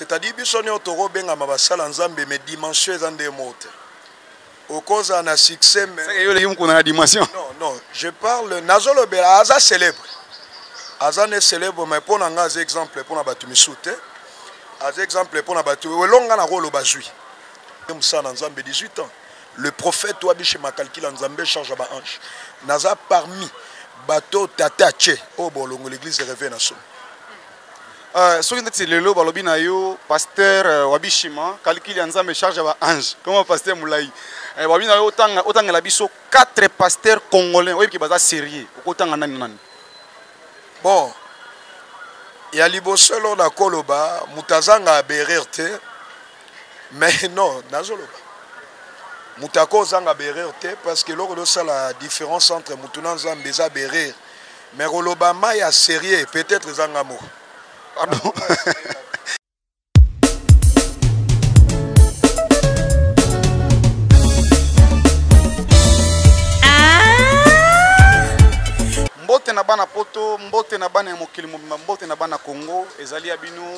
C'est-à-dire biso nio toko benga ma basala nzambe mais dimension eza nde mote. Okoza na succès mais C'est yo le yum kuna na dimension. Non non, je parle nazo lobela aza célèbre. Aza ne célèbre mais pona nga aza exemple pona batu misute. Aza exemple pona batu welonga na rolo bazui. Musana nzambe 18 ans. Le prophète wabi chez Makalkila nzambe charge ba ange. Naza parmi bato tata che obolongo l'église de réveil na solo. Euh, soki ndeti lelo balobi na yo pasteur euh, wabishima kalikili ya nzambe charge ya baange koma pasteur molai euh, balobi na yo otangela biso 4 pasteur congolais oyebi ke baza sérieux okotanga nani nani bon ya liboso elo nakoloba moto azanga aberer te mais non nazoloba moto ako ozanga berer te parce que eloko losala différence entre motu na nzambe eza berer Mais koloba ma ya serieux peut-être eza nga moko. Pardon. mbote na bana poto mbote na bana ya mokili mobimba mbote na bana congo ezali ya bino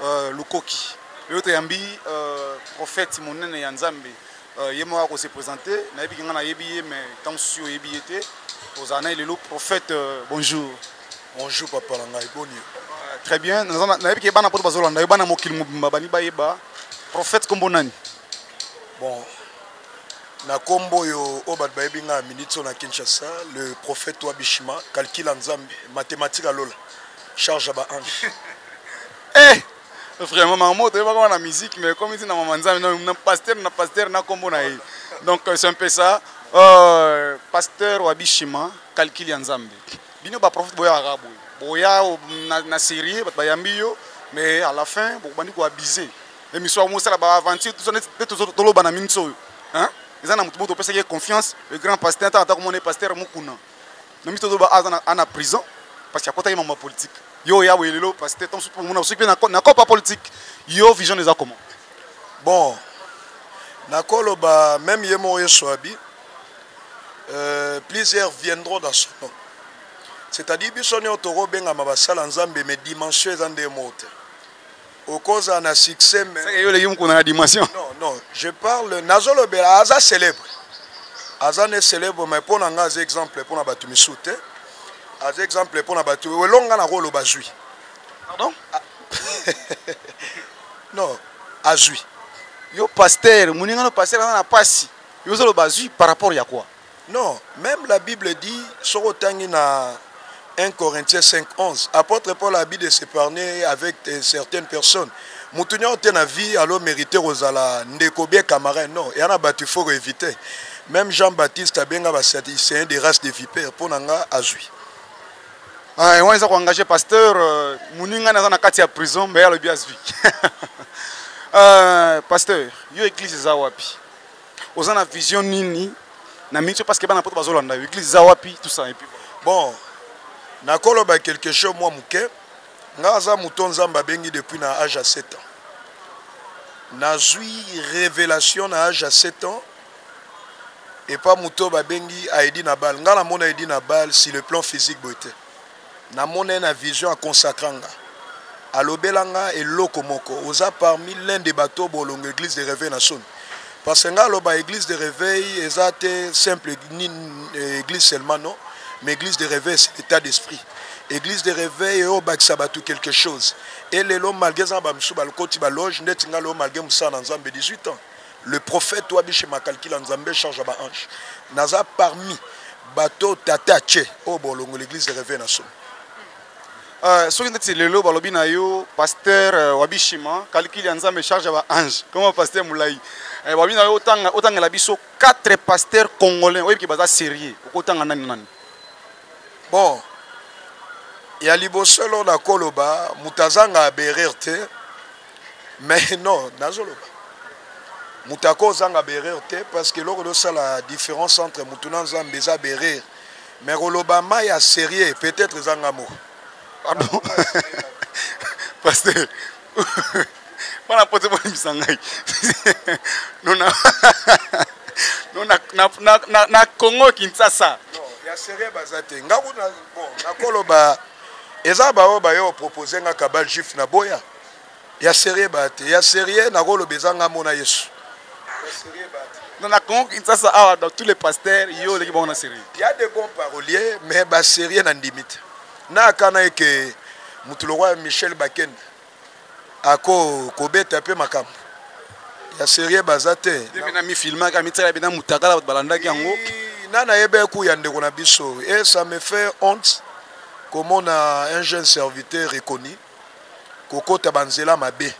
uh, lukoki oyo toyambi uh, profete monene ya nzambe Euh, ye moko akose présente nayebi ke ngai nayebi ye mais ntango susi oyebi ye te ozala na ye lelo prophète euh, bonjour bonjour papa na ngai boni euh, très bien nayebi ke bana poto bazolanda yo bana mokili mobimba bani bayeba prophète nkombo nani bon na nkombo oyo oyo bato bayebi ngai ya minute oyo na kinshasa le prophète wa bishima calcula nzambe mathématique alola charge ya baange eh! Vraiment maman moto yeba kama na musique mais comme dit na maman nzambe na pasteur na pasteur na kombo na ye. Donc euh, c'est un peu ça. Euh, pasteur wa bishima calcul ya nzambe. Bino ba prophète boya arabu. Boya na, na série bat bayambi yo mais à la fin bokobandi ko abuser. Émission mo sala ba aventure tout ça net tout ça toloba na minso. Hein? Eza na moto moto opesaki confiance le grand pasteur ata ata komona pasteur mukuna. na miso tozo ba aza na ana prison parce que akotaki mambo ya politique yo ya boye lelo parce que tonso mona soki pe na copa politique yo vision eza comment bon nakolo ba même ye moko yesu abi euh, plusieurs viendront dans son nom c'est-à-dire biso nio tokobengama basala nzambe mais dimension eza nde moko te okozala na succès mais seke yo oleki mukuna na dimension non non je parle nazolobela aza célèbre aza ne célèbre mais mpo na ngai aza exemple mpo na bato misusu te aza exemple mpo na bato elongo ngai nakoloba azwi pardon ah. non azwi yo paster moningano paster aza na mpasi yo ozoloba azwi par rapport ya quoi Non, meme la bible dit soki otangi na 1 Corinthiens 5 11 apotre Paul abi de s'epargner avec certaines personnes mutu nionso te na vie alo merite kozala ndeko bien camarade non ya na batu faut ko eviter meme Jean Baptiste abenga ba sadicéens de race de vipère mpo na nga azwi Ouais, wana eza ko engage pasteur euh, muninga naza na kati ya prison mais alobi azwi euh, pasteur yo église eza wapi oza na vision nini na mingi parce que bana poto bazolanda yo église eza wapi tout ça et puis bon nakoloba quelque chose mwa moke ngai aza moto nzambe abengi depuis na age ya 7 ans nazwi révélation na age ya 7 ans epa moto babengi aedi na bale ngai namona edi na bale sur le plan physique boye te Na mona ye na vision a consacra nga alobela nga eloko moko oza parmi l'un de batu oyo bolongo eglise de reveil na soni parce que nga aloba eglise de reveil eza te simple ni eglise seulement non mais eglise de reveil c'est etat d'esprit eglise de reveil eyo bakisa batu quelque chose et lelo malgre eza na ba misusu balokoti ba loge ndeti nga lelo malgre musala na nzambe 18 ans Le prophète wabi chez Makalkila Nzambe charge ya ba ange. Naza parmi bato tata che oyo bolongo l'église de réveil na somo. Euh, soki ndeti lelo balobi na yo pasteur euh, wabishima kalikili ya nzambe charge ya ba ange koma pasteur molai eh, balobi na yo otanga otangela biso quatre pasteur congolais oyebi ke baza sérieux okotanga nani nani bon ya liboso elo nakoloba moto azanga aberer te mais non nazoloba moto ako ozanga berere te parce que eloko losala différence entre motu na nzambe eza berere mais koloba ma ya sérieux peut-être eza nga moko pardon pasteur bana pote bolimisa ngai nona na congo kinsasa ya sérieux baza te nga kuna bon nakoloba eza baoyo bayo propose nga kabal juif na boya ya serieux ba te ya serieux nakoloba eza ngambo na yesu non na congo kinshasa awa dans tous les pasteurs yo oleki bango na serieux ya de bon parolier mais ba serieux na ndimi te na akana eke motu lokola michel bakende ako kobeta mpe makambo ya serieux baza te na mifilmaka mitala bina mutakala bato balandaki yango na nayebi eku ya ndeko na biso e ça me fait honte komona un jeune serviteur reconnu kokota ba nzela mabe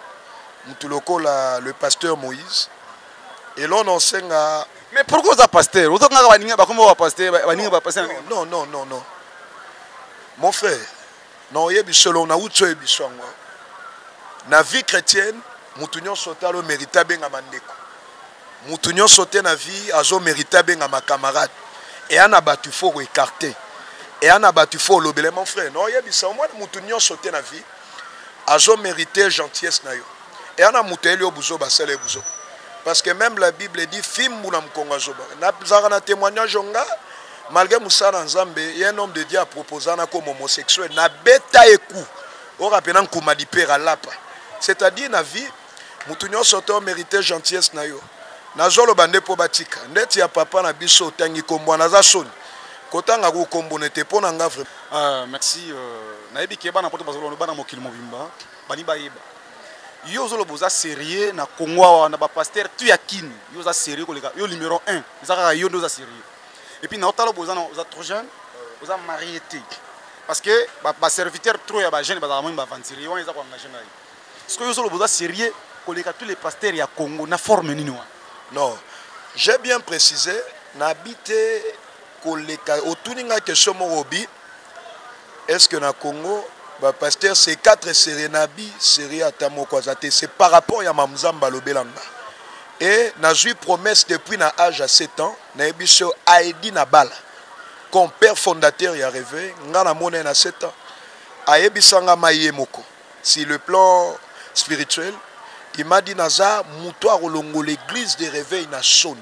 mutu lokola le pasteur Moïse eloko na osenga mais pourquoi oza pasteur oza kaka baninga bakoma ba pasteur baninga ba pasteur non non non non mon frère na oyebi solo na uti oyebi so yango na vie chrétienne mutu nyonso otala omerite abengama ndeko Mutu nionso te na vie azo merite abengama camarade. Eya na batu faut ko ecarter. Eya na batu faut olobele mon frère. Na oyebisa omona mutu nionso te na vie azo merite gentillesse na yo. Eya na mutu ayeli yo buzoba asala ye buzoba. Parce que même la Bible dit fimbu na mukongo azoba. Na zaka na témoignage onga malgré musala nzambe ye un homme de Dieu a proposa na comme homosexuel na beta eku. Ora pena nkuma lipera lapa. C'est-à-dire na vie Mutu nionso te o merite gentillesse na yo. Nazo loba nde po batika. Ndeti ya papa na biso otangi kombo wana aza soni. Kotanga ko kombo ne te po na nga vraiment. Ah merci euh, nayebi ke bana poto bazoloba bana mokili mobimba bani bayeba yo ozoloba oza sérieux na congo awa na bapaster tu ya kini yo oza sérieux koleka yo numéro 1 eza kaka yo nde oza sérieux epuis naotala obo oza trop jeune oza marie te parce que baserviteur trop ya bajeune bazalaka moi baventurier wana eza koengage ngai Sikoyo yo ozoloba oza serieux koleka tous les pasteurs ya Congo na forme nini wana? Non, j'ai bien précisé nabi te koleka otuni nga question moko obi est-ce que na Congo ba pasteurs c'est quatre serieux nabi serieux ata moko aza te c'est par rapport ya mamzamba alobela nga et nazwi promesse depuis na âge ya 7 ans nayebi so aedi na bala compère fondateur ya reve nga namona ye na 7 ans ayebisanga ma ye moko Sur le plan spirituel, il m'a dit naza mutu akolongola eglise de reveil na soni.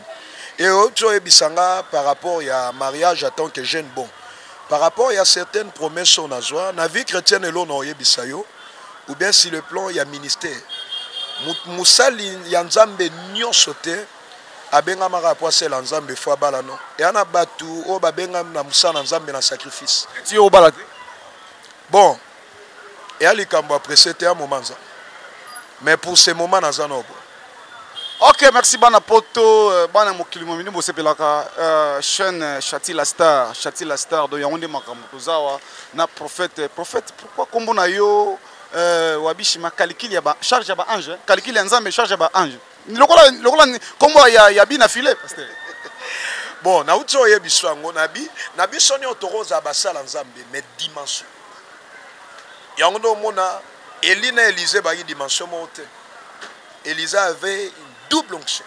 Et oyoki oyebisa nga par rapport ya mariage en tant que jeune bon. Par rapport ya certaines promesses oyo nazwa na vie chretienne elona oyebisa yo ou bien sur le plan ya ministère. Musali ya Nzambe nionso te abengamaka po asela Nzambe faut abala non. Eya na batu oyo babengami na musala na Nzambe na sacrifice. Ti obala te? Bon eya likambo ya presse te ya moment nza mais pour ce moment naza na obo ok merci bana poto euh, bana mokili momini bosepelaka euh, chaîne euh, chati la star chati la star donc yango nde makambo toza awa na prophète prophète pourquoi nkombo na yo wabishi makalikili ya ba charge ya ba ange kalikili ya nzambe charge ya ba ange lokola lokola kombo ya ya bi na filet pasteur bon na uti oye biso yango na bi na biso nyo tokoza basala nzambe mais dimension yango ndo omona Eli na Elise bayi dimension moko te Elisa avait une double onction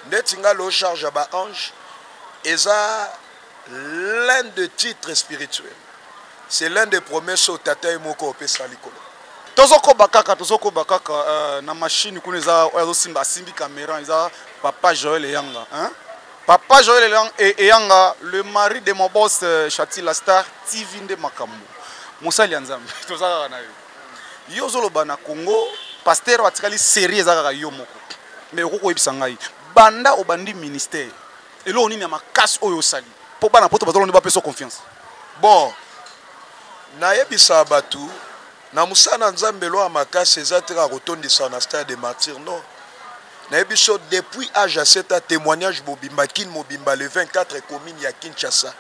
ndeti nga lo charge ya ba ange eza l'un de titre spirituel c'est l'un des promesses oyo tata ye moko opesa likolo tozokoba kaka tozokoba kaka uh, na mashine kuna eza oyo azosimba asimbi kamera eza papa joel eyanga hein? papa joel e-, eyanga le mari de mon boss euh, chati la star tv nde makambo mosali ya nzambe toza kaka na yo yo ozoloba na congo paster oyo atikali serie eza kaka yo moko me okoki koyebisa ngai banda obandi ministère eloko nini ya makasi oyo osali mpo bana poto bazalaka nde bapesa confiance bon nayebisa bato na mosala na nzambe eloko ya makasi eza te kaka kotondisa na stade de martyr non nayebi so depuis age ya 7 a témoignage bobimba kin mobimba le 24 commune ya kinshasa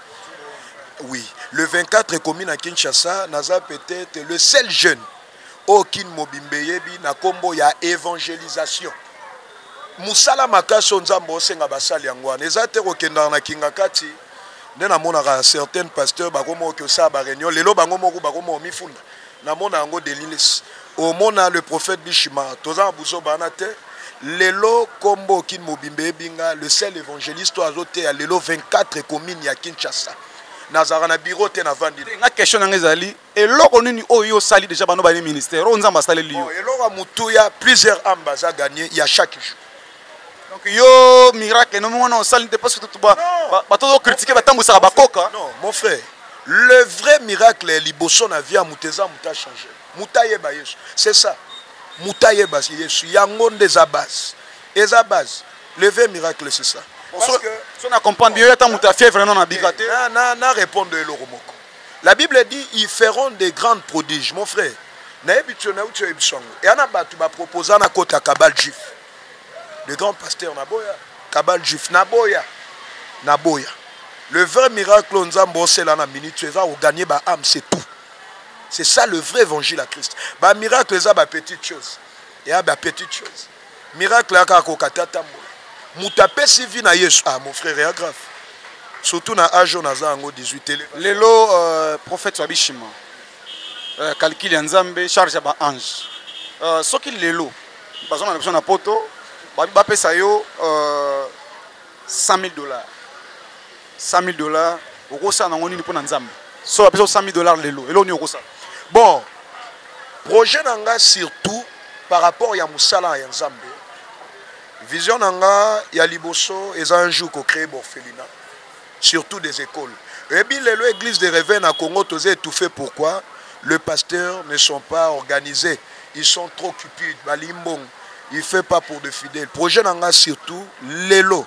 oui le 24 commune ya kinshasa naza peut-être le seul jeune oyo kin mobimba eyebi na nkombo ya evangelisation mosala makasi oyo nzambe osenga basali yango wana eza te kokendaka na kingakati nde namonaka certaine pasteur bakoma oke osala bareunion lelo bango moko bakoma omifunda namona yango delilis omona le prophète bishima toza na buzoba wana te lelo nkombo okini mobimba eyebi nga le sel évangéliste oyo azoteya lelo 24 commune ya kinshasa nazalaka na biro te navandi nga question na nga ezali eloko nini oyo yo osali deja bano baye ministère oyo nzambe asaleli yo eloko ya motuya plusieurs ame baza gagne ya chaque jour donc yo miracle nomi wana osali te parce que bato ozokritike batambwisaka bakoka non mon frère le vrai miracle ya liboso na vie ya moto eza moto achange moto ayeba yesu c'est ça moto ayeba yesu yango nde eza base eza base le vrai miracle c'est ça so na comprendre bien yo ata moto ya fièvre nano na bika te na répondre eloko moko La bible dit ils feront des grandes prodiges mon frère nayebi tso na utso yebi sango ya na batu ba proposa na kota cabal juif le grand pasteur na boya cabal juif na boya na boya le vrai miracle oyo nzambe osela na minute eza koganye ba ame c'est tout c'est ça le vrai évangile ya christ bamiracle eza bapetite chose eya bapetite chose miracle ya kaka koka te atambola moto apesi vi na yesu ah mon frère ya grave surtout na age oyo naza yango 18 tele lelo euh, prophète wabishima euh, calcul ya nzambe charge ya baange euh, soki lelo baza na biso na poto bapesa yo 100 000 dollars 100000 dollars okosala nango nini pona nzambe so bapesa 100000 dollars lelo eloko nini okosala bon projet na nga surtout par rapport ya mosala ya nzambe vision na nga ya liboso eza un jour kocree borphelina surtout des écoles eyebi lelo église de reve na congo toza étouffé pourquoi le pasteur ne sont pas organisés ils sont trop cupides balingi mbongo il fait pas pour de fidèles projet na nga surtout lelo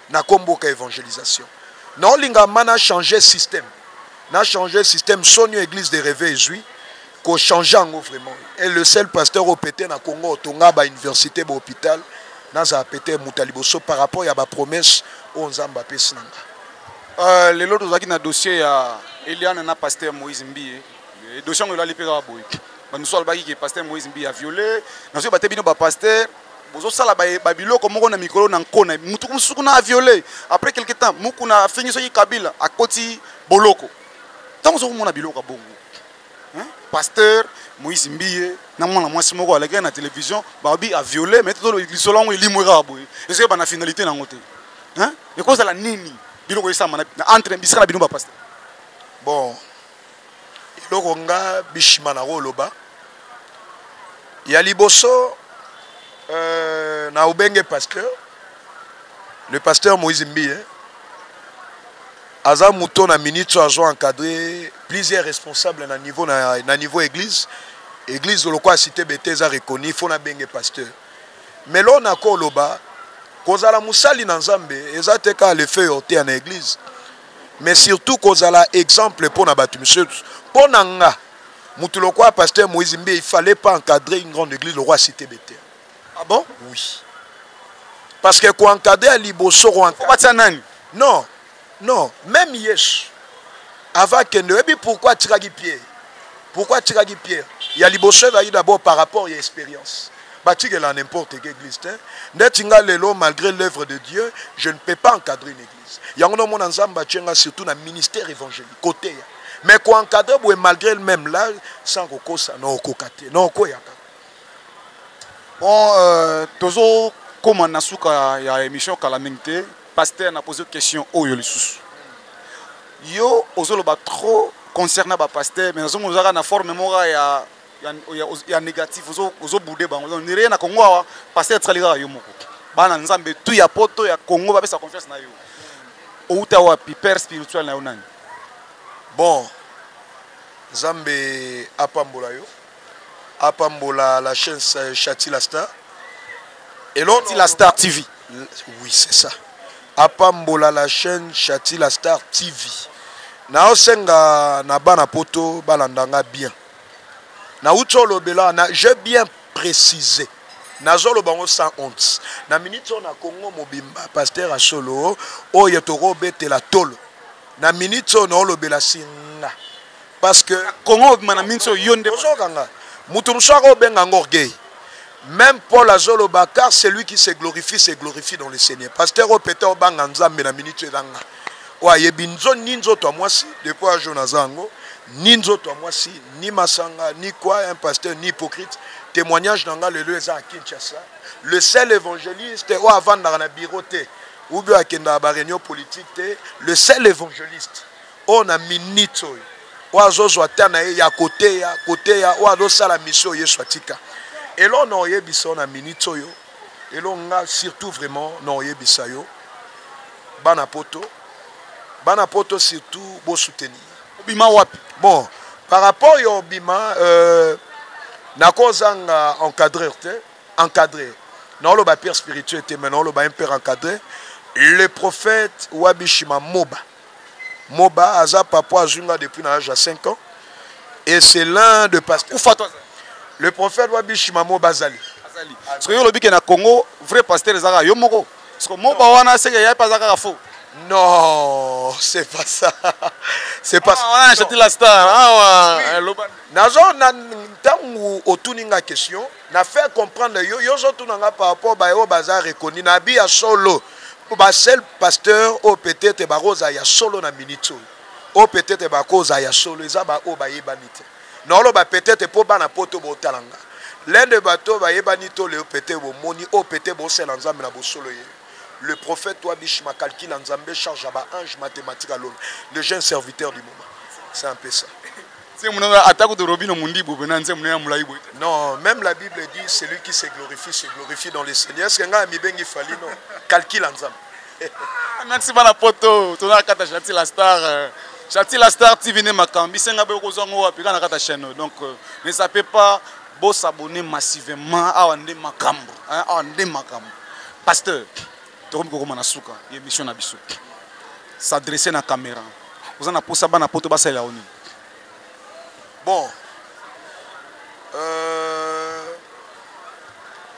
na kombo ka evangelisation naolinga ma na changer système na changer système soni oyo église de reve ezwi kochange yango vraiment et le seul pasteur oyo pete na congo otonga bauniversité bahôpital nazala pete moto ya liboso par rapport ya bapromesse oyo nzambe apesi na nga euh, lelo tozalaki na dossier ya eliane na pasteur moïse mbiye dossier yango elali mpe kaka boye bamosusu alobaki ke pasteur moïse mbiye aviole nazoyeba te bino bapaster bozosala babiloko moko na mikolo na nko na motu mosusu kuna aviole après quelque temps mokuna afingi soki kabila akoti boloko ntango ozo komona biloko ya bongo pasteur moïse mbiye na mwana mwasi moko alakaki na télévision babi aviole mai lisolo yango elimwe kaka boye ezoki bana finalité na yango te ekozala nini biloko esama entre bisika na bino bapaster bon eloko nga bishima na koloba ya liboso euh, na obenge pasteur le pasteur moïse mbiye aza moto na minute oyo azo encadre plusieurs responsable na niveau, na, na niveau église église lokola cité bete eza reconi fo nabenge pasteur mais loo nakoloba kozala mosali na nzambe eza te kaka lefeu ortea na église mais surtout kozala exemple mpo na bato misusu mpo na nga motu lokola pasteur moïse mbe il fallait pas encadrer une grande église lokola cité bete ah bon oui parce que koencadre ya liboso koencadre nani non non même yesu avant akende oyebi pourquoi atikaki pierre pourquoi atikaki pierre ya liboso ezalaki d'abord par rapport ya expérience batikela n'importe que église te ndeti nga lelo malgré l'œuvre de dieu je ne peux pas encadrer une église Yango na mona Nzambe atie nga surtout na ministère évangélique côté ya mais ko encadrer boye malgré le même là sans kokosa na okoka te na okoyaka bon euh, tozo koma na suka ya émission kala mingi te pasteur na pose question oyo lisusu yo ozoloba trop concernant ba pasteur mais nazomona ozalaka na forme moko ya ya négatif ozo boude bango donc rien na Congo awa pasteur tsali kaka yo moko bana nzambe tout ya poto ya Congo ba pesa confiance na yo outa wapi père spirituel na yo nani bon nzambe apambola yo apambola la chaîne Chati la star et l'autre la star TV oui c'est ça apambola la chaîne Chati la star TV naosenga na bana poto balanda nga bien Na uti olobela na je bien precise nazoloba yango sans honte na minute oyo na congo mobimba pasteur ya solo oyo tokobetela tolo na minute oyo naolobela singa parce que congo mobimba na minute oyo yo nde ozokanga moto mosusu akobenga yango orgueil Meme Paul azoloba car celui qui se glorifie se glorifie dans le Seigneur. Pasteur oyo peut-être obanga Nzambe na minute oyo ezanga. Oyo ayebi nzo ni nzoto ya mwasi depuis un jour naza yango ni nzoto ya mwasi ni masanga ni quoi un pasteur ni hypocrite témoignage na nga lelo eza ya Kinshasa. Le seul évangéliste oyo avandaka na bureau te ou bien akendaka ba réunion politique te le seul évangéliste oyo na minute oyo oyo azozwa ata na ye ya koteya koteya oyo azosala misio oyo yesu atika elo na oyebisa yo na minute oyo elo nga surtout vraiment na oyebisa yo bana poto bana poto surtout bosoutenir obima wapi bon par rapport ya obima euh, nakozanga encadreur te encadreur naoloba père spirituel te mais naoloba un père encadreur le prophète wabishima moba Moba aza papa azwi nga depuis na âge ya 5 ans et c'est l'un de pas kufa toi le prophète wa bishima Moba azali azali parce que yo lobi ke na Congo vrai pasteur ezaka yo moko parce que Moba wana seke yaye pas kaka faux non c'est pas ça c'est pas ah, wana chati la star awa ah, eh, loba nazo na ntango otuni nga question Na faire comprendre yo yo ozo tuna nga par rapport baye oyo baza reconnu na bi ya solo ba seul pasteur oyo peut etre bako za ya solo na minute oyo oyo peut etre bako za ya solo eza ba oyo bayebani te na oloba peut etre po bana poto botala nga l'un de bateau bayebani to leo peut etre bomoni oyo peut etre bosela nzambe na bosolo ye le prophète toi biche ma calcul nzambe charge ya ba ange mathématique alona le jeune serviteur du moment c'est un peu ça nzembo na ata kutu robino mundibu pe na nzembo na ya mulayi boye non même la bible dit celui qui se glorifie se glorifie dans le seigneur est ce que ngai amibengi fali non calcul ya nzambe ah, merci bana poto tozala kata jati la star euh, jati la star tv nde makambo bisenga boye okozwa ngo wapi kaka na kata chaîne donc euh, ne sape pas bosabone massivement awa nde makambo awa nde makambo pasteur tokomi kokoma na suka ya émission na biso s'adresse na caméra oza na mposa bana poto basalela yo nini Bon, euh,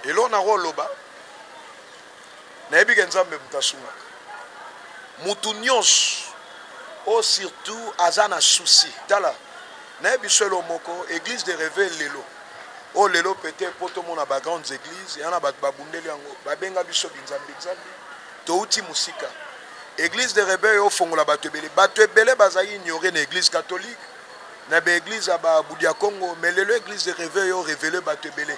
eloko na koloba nayebi ke nzambe moto asungaka motu nyonso oyo oh, surtout aza na souci tala naye biso elo moko église de reve lelo oyo oh, lelo peut-être mpo tomona bagrandes églises yana bato babundeli yango babenga biso binzambi nzambi Touti musika. Eglise de rebeu ofongola bato ebele. Bato ebele bazali ignorer na eglise catholique, na ba eglise ya ba Budia Congo, mais lelo eglise de rebeu yo reveler bato ebele.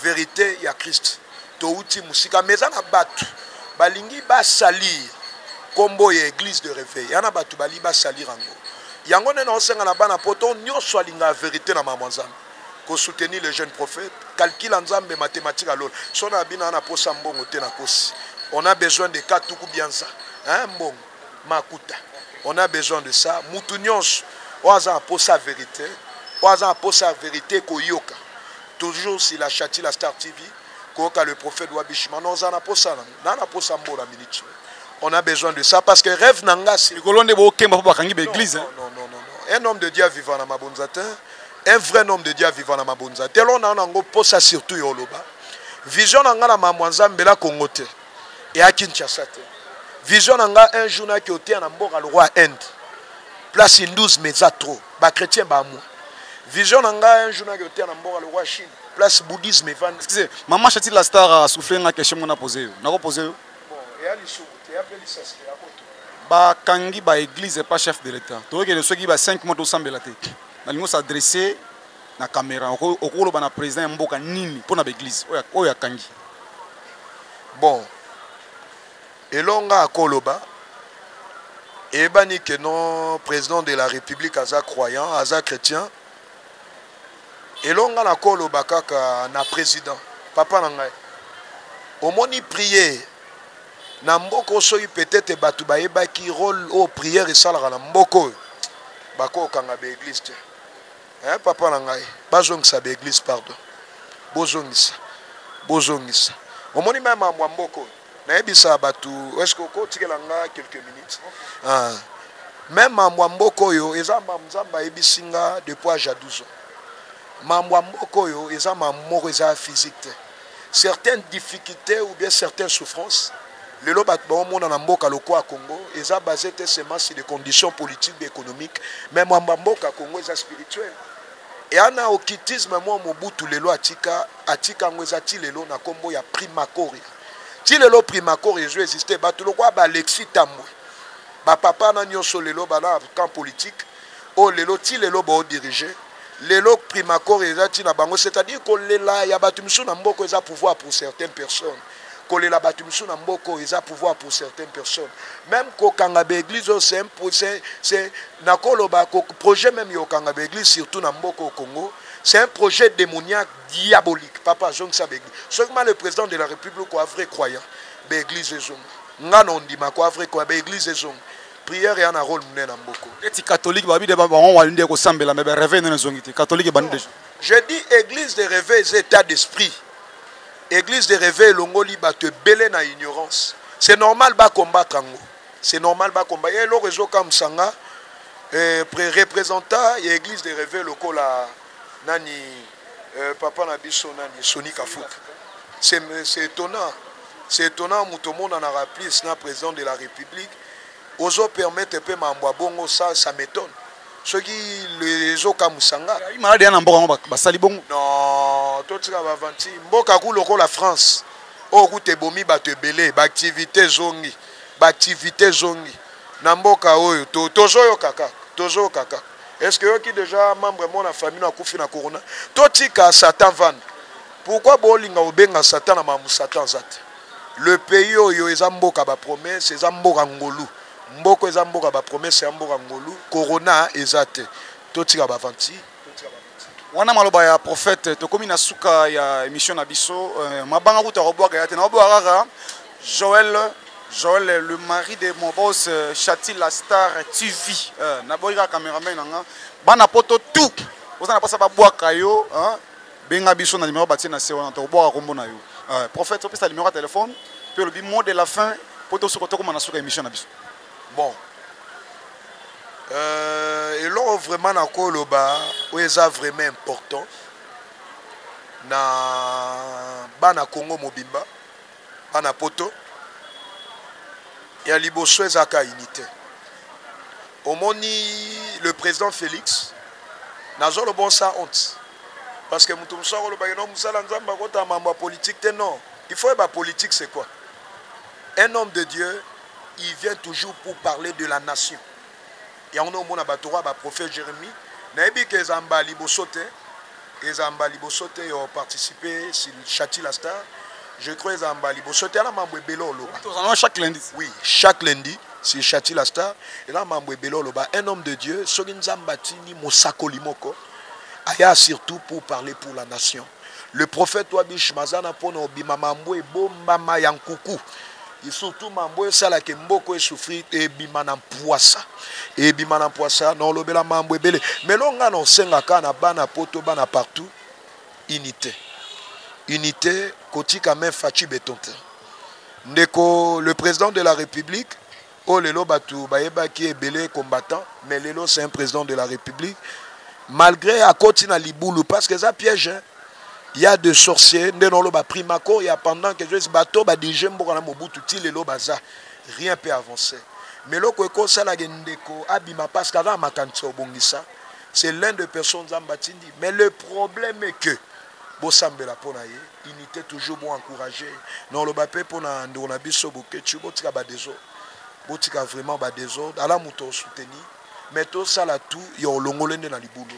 Verite ya Christ. Touti musika mais eza na bato balingi ba salir kombo ya eglise de reveil. Yana bato bali ba salir yango. Yango nde naosenga na bana poto nyonso alinga verite na maman Nzambe. ko soutenir le jeune prophète calcul ya nzambe mathematique ya lola so na bino aza na posa mbongo te na kosi on a besoin de ka tuku bianza hein mbongo makuta on a besoin de ça mutu nyonso oyo aza na posa verite oyo aza na posa ya verite koyoka toujours si la chati la star tv koyoka le prophète wabishima na oza na posa nango na na posa mbona minute on a besoin de ça parce que rêve na ngasi likolo nde bokemba mpo bakangi baeglise un homme de dieu avivana mabonza te Un vrai nom de Dieu aviva na mabonza te alors na na ngo posa surtout yo loba vision na nga na mamwa nzambe la Congo te et à Kinshasa te vision na nga un jour na ki otea na mboka le roi Inde place hindous mais za trop ba chrétiens ba moi vision na nga un jour na ki otea na mboka le roi Chine place bouddhisme van excusez maman chati la star a soufflé nga question mona poser yo na ko poser yo bon et à l'issue te appelle ça c'est à quoi bakangi ba église epa chef de l'état toyokende soki ba 5 mois tosambela te nalingi osadresse na camera okoloba na président ya mboka nini mpo na baeglise oyo akangi bon elonga akoloba eyebani ke non président de la république aza croyant aza chrétien elonga nakoloba kaka na président papa na ngai omoni priere na mboka oyo soki peut-être bato bayebaki role oyo prière esalaka na mboka oyo bakokanga baeglise te eh, papa na ngai bazongisa baeglise pardon bozongisa bozongisa omoni mai mambo ya mboka oyo nayebisa bato eske okotikela nga quelques minutes ah. me mambo ya mboka oyo eza mambo nzambe ayebisi nga depuis age ya 12 ans mambo ya mboka oyo eza mambo moko eza physique te certaines difficultés ou bien certaines souffrances lelo bato baomona na mboka lokola congo eza base te seulement sur des conditions politiques be économiques mais mwamba mboka congo eza spirituel eana okitisme mwa mobutu lelo atika atika yango eza ti lelo na nkombo ya primacoria ti lelo primacoria ezo existe bato lokola baalexis tambwe bapapa na nyonso lelo bana camp politique oyo lelo ti lelo bo dirige lelo primacore eza ti na bango c'est à dire kolela ya bato misusu na mboko eza pouvoir pour certaines personnes kolela bato misusu na mboka oyo eza pouvoir pour certaines personnes meme kokanga baeglise oyo c'est nakoloba projet meme ya kokanga baeglise surtout na mboka oyo congo c'est un projet démoniaque diabolique papa azongisa baeglise soki ma le président de la république oa vrai croyant baeglise ezonga nga na ondima koa vrai croyant baeglise ezonga prière ya na rôle monene na mboko neti catholique babi de bango wali nde kosambela mais bareve nene ezongi te catholique ebandi deja je dis église de reve eza état d'esprit église de reve elongoli bato ebele na ignorance c'est normal bacombattre yango c'est normal bacombattre ye eloko ezokamwisa nga eh, représentant ya église de reve lokola nani euh, papa na biso nani Sony Kafuta c'est c'est étonnant c'est étonnant moto omonanaka plus na président de la république ozo permettre mpe mambo ya bongo ça ça m'étonne soki ezokamwisa nga malade ya na mboka yango basali bongo non totika bavanti mboka ku lokola france oyo kuta ebomi bato ebele baaktivité ezongi baaktivité ezongi na mboka oyo tozoyoka kaka tozoyoka kaka Est ce que oyoki deja membre moko na famille no akufi na corona? Totika Satan avanda. Pourquoi bolinga kobenga Satan na makambo Satan aza te? Le pays oyo eza mboka ba promesse, eza mboka ngolu. Mboko eza mboka ba promesse ya mboka ngolu. Corona eza te. Totika ba aventure. wana maloba ya prophète tokomi na suka ya émission na biso euh, mabanga kuta kobwaka ya te na obwaka kaka Joël Joël le mari de mon boss euh, Chati la star TV euh, na boyi kaka cameraman na nga bana poto tout oza na posa ba bwaka yo hein benga biso na numéro batie na se wana to bwaka kombo na yo euh, prophète opesa numéro ya téléphone pe lobi mot de la fin poto soko tokoma na suka émission na biso Bon. Euh, eloko vraiment nakoloba oyo eza vraiment important na bana congo mobimba bana poto ya liboso ezalaka unité omoni le président félix nazoloba osa honte parce que moto mosusu akolobaki no mosala nzambe akotala mambo ya politike te non il faut yeba politike c'est quoi un homme de dieu il vient toujours pour parler de la nation yango nde omona bato oyo baprofet jérémie nayebi ke eza mba liboso te eza mba liboso te yo participe chati la star je crois eza mba liboso te ala mambo ebele oloba chaque lundi oui chaque lundi si chati la star eza mambo ebele oloba un homme de dieu soki nzambe atindi mosakoli moko aya surtout pour parler pour la nation Le prophète Wabish Mazana pona obima mambo ebombama ya nkuku et surtout mambo esala ke mboko e souffrir ebima na mpuasa ebima na mpuasa na olobela mambo ebele melo nga na osengaka na bana poto bana partout unité unité kotika main faci beton te ndeko le président de la république Oyo lelo batu bayebaki ebele combattant mais lelo c'est un president de la republique malgre akoti na libulu parce que eza piège hein? il y a de sorciers nde noloba primaco ya pendant que je bato ba dirige mboka na mobutu ti lelo baza rien peut avancer mais eloko ekosala ke ndeko abima parce que aza makanisa obongisa c'est l'un de personnes nzambe atindi mais le problème est que bosambela pona ye unite toujours bo encourage noloba pe pona ndeko na biso boketshu botika ba deso botika vraiment ba deso ala moto o soutenir mais tosala tout ya olongole nde na libulu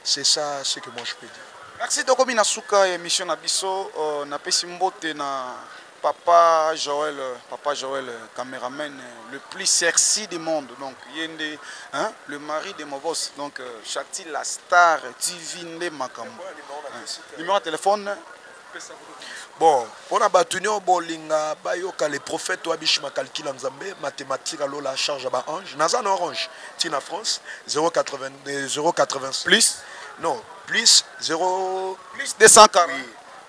c'est ça ce que moi je peux dire merci tokomi na suka ya emission na biso uh, napesi mbote na Papa Joël, papa Joël, cameraman le plus sexy du monde. Donc, yende, hein, le mari de Mobos. Donc, euh, Shakti la star TV nde makambo. Numéro de téléphone bon mpona bato nio bolinga bayoka le prophète oyo abishima calcul ya nzambe mathématique alola charge ya baange naza na orange ti na france 080 euh, plus non plus 0 plus 240 oui.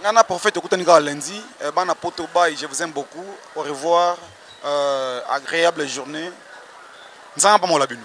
Nga na prophète tokutani kaka lundi. Euh, bana poto bay, je vous aime beaucoup. Au revoir. Euh, agréable journée. Nzanga pamola bino.